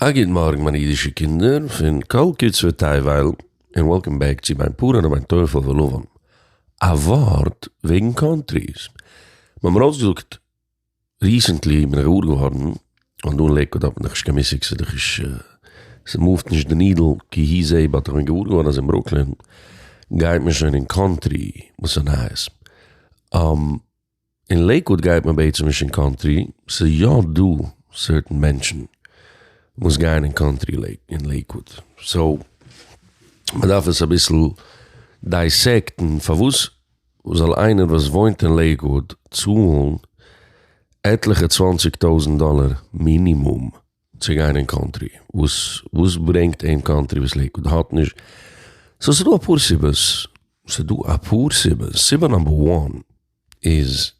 א גוט מארגן מיינע אידישע קינדער פון כל קצווי תבל, און וועלקאם בעק צו דיין פארען און מיין טויפעל ולבן. א ווארט וועגן קאנטריס. מ'האט מיר אויסגעזאגט ריסענטלי בין איך געוואר געווארן אז דא אין לעיקוואד האט מען דאך נישט קיין מושג ס'איז דאך נישט ס'מאווט נישט די נידל כי היא זה באט איך בין געוואר געווארן אז אין ברוקלין גייט מען שוין אין קאנטרי וואס איז נייעס. אין לעיקוואד גייט מען בעצם נישט אין קאנטרי, ס'איז יא דא סערטען מענטשן וואס גייען אין קאנטרי אין לעיקוואד, סאו מ'דארף עס אביסל דייסעקטן פארוואס זאל איינער וואס וואוינט אין לעיקוואד צאלן עטליכע צוואנציג טויזענט דאלער מינימום. צו גיין אין קאנטרי, וואס וואס ברענגט אים קאנטרי וואס לעיקוואד האט נישט, סאו ס'דא אפאר סיבות, ס'דא אפאר סיבות, סיבה נאמבער וואן איז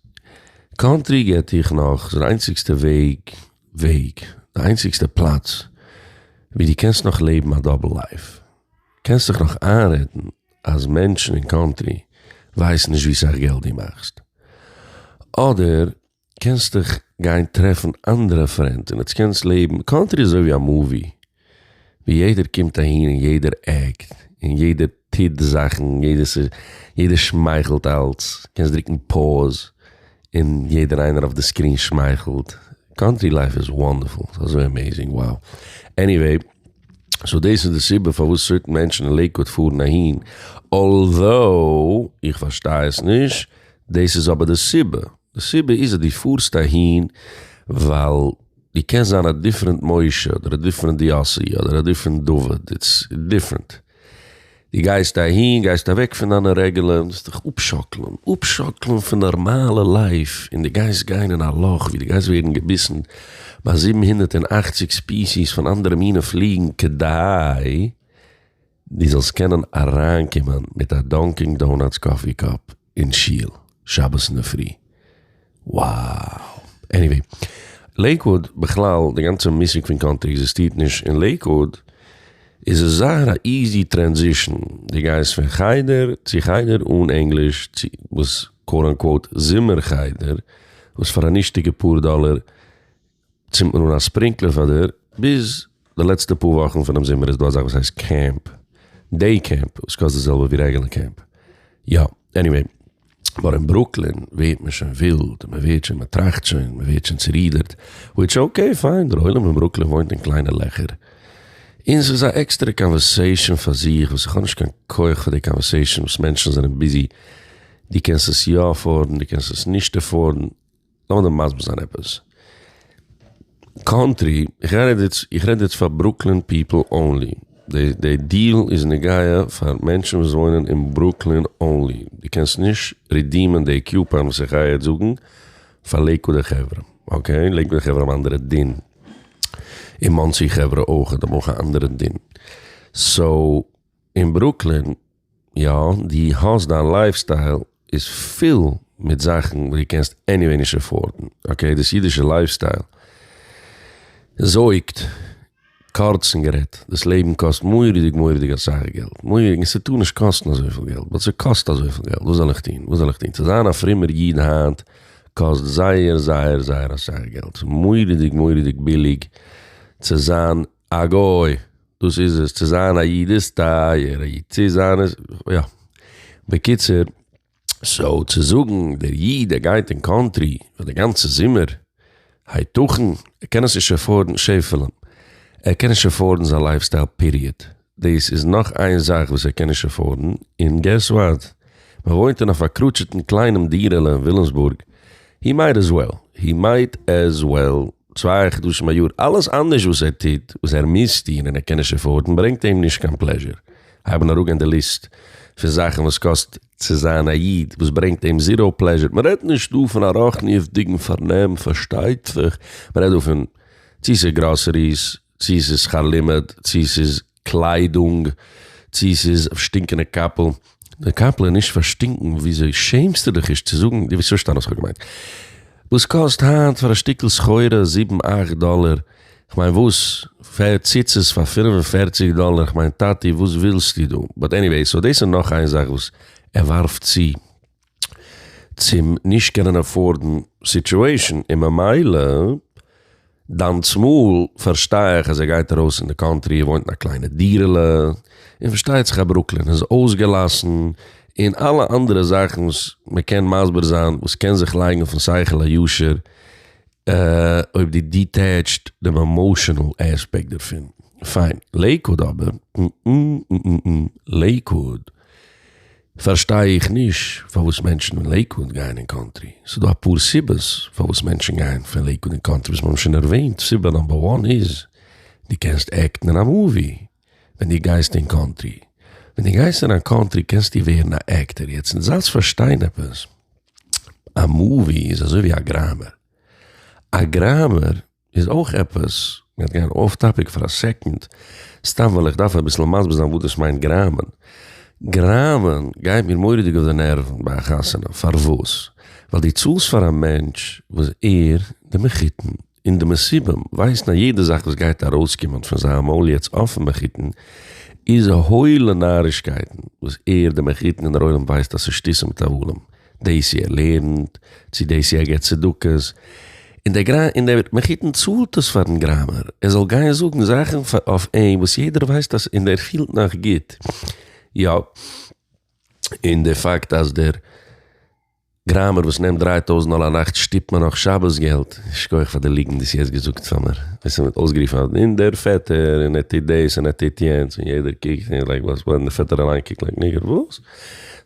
קאנטרי געט דיך נאך, ס'איז די איינציגסטע וועג וועג, די איינציגסטע פלאץ ווי די קענסט נאך לעבן א דאבל לייף, קענסט זיך נאך איינרעדן אז מענטשן אין קאנטרי ווייסן נישט ווי סאך געלט די מאכסט, אדער. קענסט דיך גיין טרעפן אנדערע פרענד און עטס קענסט לעבן, קאנטרי איז אזויווי א מאווי ווי יעדער קומט אהין און יעדער עקט און יעדער טוט זאכן יעדער שמייכלט אלץ קענסט דרוקן פאוז און יעדער איינער אויף די סקרין שמייכלט, קאנטרי לייף איז וואנדערפול ס'איז אזוי עמעזינג wow עניוועי סאו דאס איז די סיבה פארוואס סערטען מענטשן אין לעיקוואד פארן אהין אלזאו איך פארשטיי עס נישט דאס איז אבער די סיבה. די סיבה איז אז דו פארסט אהין ווייל דו קענסט זיין א דיפרענט משה אדער א דיפרענט יאסי אדער א דיפרענט דוד, איטס דיפרענט. דו גייסט אהין, גייסט אוועק פון דיינע רעגולען, וועסט דיך אפשאקלען, אפשאקלען פון נארמאלע לייף, און דו גייסט גיין אין א לאך ווי דו גייסט ווערן געביסן ביי זיבן הונדערט און אַכציק ספיסיס פון אנדערע מינע פליגן כדי דו זאלסט קענען אריינקומען מיט א דאנקינג דאונאטס קאפי קאפ אין שול שבת אינדערפרי. Wow! עניוועי, לעיקוואוד בכלל, די גאנצע מושג פון קאנטרי עקזיסטירט נישט אין לעיקוואוד, איז עס זייער א איזי טרענזישן, דו גייסט פון חדר צו חדר אן ענגליש צו וואס קאוט אנקאוט זומער חדר וואס פאר א נישטיגע פאר דאלער, צינדט מען אן א ספרינקלער פאר דיר, ביז די לעצטע פאר וואכן פונעם זומער איז דא אזאך וואס הייסט קעמפ, דעי קעמפ, וואס קאסט די זעלבע ווי רעגולער קעמפ, יא, עניוועי, נאר אין ברוקלין ווערט מען שוין ווילד, מען ווערט שוין, מען טראכט שוין, מען ווערט שוין צורידערט, וויטש אקעי פיין, דער עולם אין ברוקלין וואוינט אין קליינע לעכער, און ס'איז א עקסטערע קאנווערסעישאן פאר זיך, וואס איך האב נישט קיין כח פאר די קאנווערסעישאן וואס מענטשן זענען ביזי, דו קענסט עס יא עפארדן, דו קענסט עס נישט עפארדן. לאמיר דיר מסביר זיין עפעס. קאנטרי, איך רעד יעצט, איך רעד יעצט פאר ברוקלין פיפל אנלי. די די דיעל איז נוגע פאר מענטשן וואס וואוינען אין ברוקלין אנלי. דו קענסט נישט רידימען די קיופאן וואס איך גיי יעצט זאגן פאר לעיקוואדער חברה. אקעי? לעיקוואדער חברה האבן א אנדערע דין. און מאנסי חברה אויכעט האבן אויך א אנדערע דין. סאו, אין ברוקלין. יא, דו האסט דיין לייף סטייל איז פול מיט זאכן וואס דו קענסט עניוועי נישט עפארדן, אקעי דאס אידישע לייף סטייל זויגט, קורצן גערעדט, דאס לעבן קאסט מורא'דיג מורא'דיג אסאך געלט, מורא'דיג, און ס'טאר נישט קאסטן אזויפיל געלט, באט ס'קאסט אזויפיל געלט, וואס זאל איך טון, וואס זאל איך טון, צו זיין א פרומער איד היינט קאסט זייער זייער זייער אסאך געלט, ס'מורא'דיג מורא'דיג ביליג צו זיין א גוי, דאס איז עס, צו זיין א איד איז טייער, א איד צו זיין איז, יא. בקיצור, סאו צו זאגן דער איד ער גייט אין קאנטרי פאר די גאנצע זומער, הייתכן? ער קען עס נישט עפארדן, שעפעלען, ער קען נישט עפארדן זיין לייף סטייל פיריעד, דאס איז נאך איין זאך וואס ער קען נישט עפארדן, און געס וואט? מען וואוינט אין א פארקרוטשעטן קליינעם דירה'לע אין וויליאמסבורג, הי מייט עז וועל, הי מייט עז וועל. צוויי חדשים א יאר, אלעס אנדערש וואס ער טוט, וואס ער מוז טון און ער קען נישט עפארדן, ברענגט אים נישט קיין פלעזשער. הייבן אראפגיין די ליסט פון זאכן וואס קאסט צו זיין א איד, וואס ברענגט אים זיראו פלעזשער, מען רעדט נישט דא פון א רוחניות'דיגן פארנעם, פארשטייט זיך, מען רעדט דא פון צו ס'איז גראסעריס, צי ס'איז שכר לימוד, צי ס'איז קליידונג, צי ס'איז שטינקענע קאפל, די קאפל איז נישט פארשטינקן, וויאזוי שעמסטו דיך נישט צו זאגן, דו וועסט פארשטיין וואס כ'האב געמיינט, וואס קאסט היינט פאר א שטיקל סחורה זיבן אכט דאלער, כ'מיין וואס, פער ציצית פאר פֿינף און פֿערציק דאלער, כ'מיין טאטי וואס ווילסטו דא, באט עניוועי, סאו דאס איז נאך איין זאך וואס ער ווארפט צו. צום נישט קענען עפארדן סיטועישן און ממילא דיין צמאל פארשטיי איך אז ער גייט ארויס אין די קאנטרי ער וואוינט אין א קליינע דירה'לע און פארשטייט זיך אז ברוקלין איז אויסגעלאסן און אלע אנדערע זאכן וואס מ'קען מסביר זיין וואס קען זיך לייגן אויפן שכל הישר אויב די דיטעטשט דעם עמאושענעל עספעקט דערפון. פיין לעיקוואד אבער לעיקוואד. פארשטיי איך נישט פארוואס מענטשן אין לעיקוואד גייען אין קאנטרי, ס'איז דא אפאר סיבות פארוואס מענטשן גייען פון לעיקוואד אין קאנטרי וואס מ'האבן שוין ערוועינט, סיבה נאמבער וואן איז די קענסט עקטן אין א מאווי ווען די גייסט אין קאנטרי, ווען די גייסט אין א קאנטרי קענסטו ווערן א עקטער, יעצט אונז אלץ פארשטיין עפעס, א מאווי איז אזוי ווי א גראמער, א גראמער. איז אויך עפעס, מ'גייט גיין אף טאפיק פאר א סעקאנד, סתם ווייל איך דארף אביסל מסביר זיין וואס דאס מיינט גראמען. גראמען גייט מיר מורא'דיג אויף די נערוון ביי א חתונה, פארוואס? ווייל דו צאלסט פאר א מענטש וואס ער, די מחותן, און די מסובים ווייסן אז יעדע זאך וואס גייט ארויסקומען פון זיין מויל יעצט אפן מחותן איז הוילע נארישקייטן וואס ער, די מחותן, און דער עולם ווייסט אז ס'איז שטותים טבולים. דאס איר לערנט, צו דאס איר געבט צדקות, און דער גראמער און דער מחותן צאלט עס פארן גראמער, ער זאל גיין זאגן זאכן אויף אים וואס יעדער ווייסט אז און ער פילט נאך גוט, יא, און דער פאקט אז דער גראמער וואס נעמט דריי טויזנט דאלער א נאכט שטופט מיר נאך שבת געלט, שכוח פאר די ליגנט דאס יעצט געזאגט פאר מיר, וועסט מיט אויסגערופן אז און דער פעטער און ער טוט דאס און ער טוט יענץ און יעדער קוקט און לייק וואס, און דער פעטער אליין קוקט לייק ניגער וואס,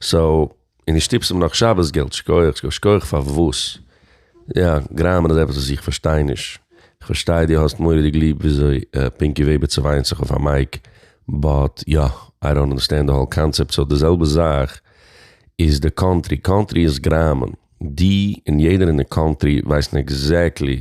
סאו. און נישט שטיפסן נאך שבת געלט, שקויעך, שקויעך פארוואס? יא, גראמען איז עפעס וואס איך פארשטיי נישט, איך פארשטיי דו האסט מוראדיג ליב וויאזוי פינקי וועבער צעוויינט זיך אויף א מייק, באט יא, איי דאנט אנדערסטענד די האול קאנצעפט, סאו די זעלבע זאך איז די קאנטרי, קאנטרי איז גראמען, דו און יעדער אין די קאנטרי ווייסן עקזעקטלי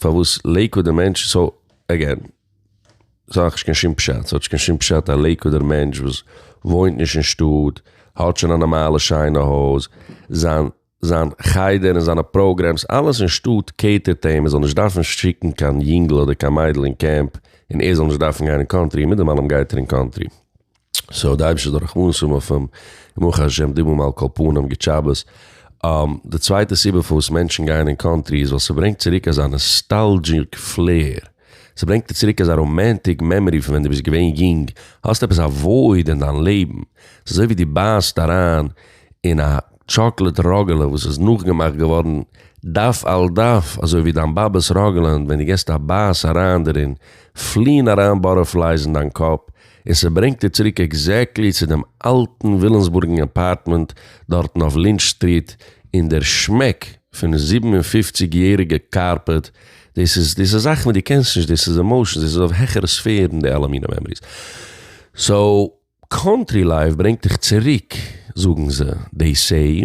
פארוואס לעיקוואדער מענטש, סאו עגעין, ס'האט נישט קיין שום פשט, ס'האט נישט קיין שום פשט א לעיקוואדער מענטש וואס וואוינט נישט אין שטאט, האט שוין א נארמאלע שיינע הויז, זיין זיין חדר און זיינע פראגרעמס אלעס אין שטאט קעיטערט אים, ער זאל נישט דארפן שיקן קיין יונגל אדער קיין מיידל אין קעמפ, און ער זאל נישט דארפן גיין אין קאנטרי, און מיט דעם אלעם גייט ער אין קאנטרי. סאו די אייבישטערס רחמנות האבן אויף אים, ברוך השם די מום על כל פנים גוט שבת. די צווייטע סיבה פארוואס מענטשן גייען אין קאנטרי איז ווייל ס'ברענגט צוריק אזא נאסטאלזשיק פלער, ס'ברענגט דיר צוריק אזא ראמענטיק מעמארי פון ווען דו ביסט געווען יונג, האסט עפעס א וואויד אין דיין לעבן, ס'אזוי ווי דו בייסט אריין אין א טשאקלעד ראגעלע וואס איז נאכגעמאכט געווארן דף על דף אזוי ווי דיין באבעס ראגעלע און ווען דו געסט א בייס אריין דערין פליען אריין באטערפלייס אין דיין קאפ, און ס'ברענגט איר צוריק עקזעקטלי צו דעם אלטן ווילאמסבורגן אפארטמענט דארטן אויף לינטש סטריט, און דער שמעק פון זיבן און פֿופֿציק יעריגע קארפעט, דאס איז דאס איז זאכן וואס דו קענסט נישט, דאס איז עמאושענס, דאס איז אויף העכערע ספערן די אלע מינע מעמאריס. סאו קאנטרי לייף ברענגט דיך צוריק זאגן זיי, דעי סעי.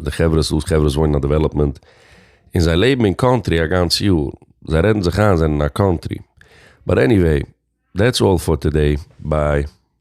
די חברה סאוט חברה וואוינען אין א דעוועלאפמענט און זיי לעבן אין קאנטרי א גאנץ יאר, זיי רעדן זיך איין זיי זענען אין א קאנטרי באט עניוועי דעטס אלל פאר טאדעי ביי.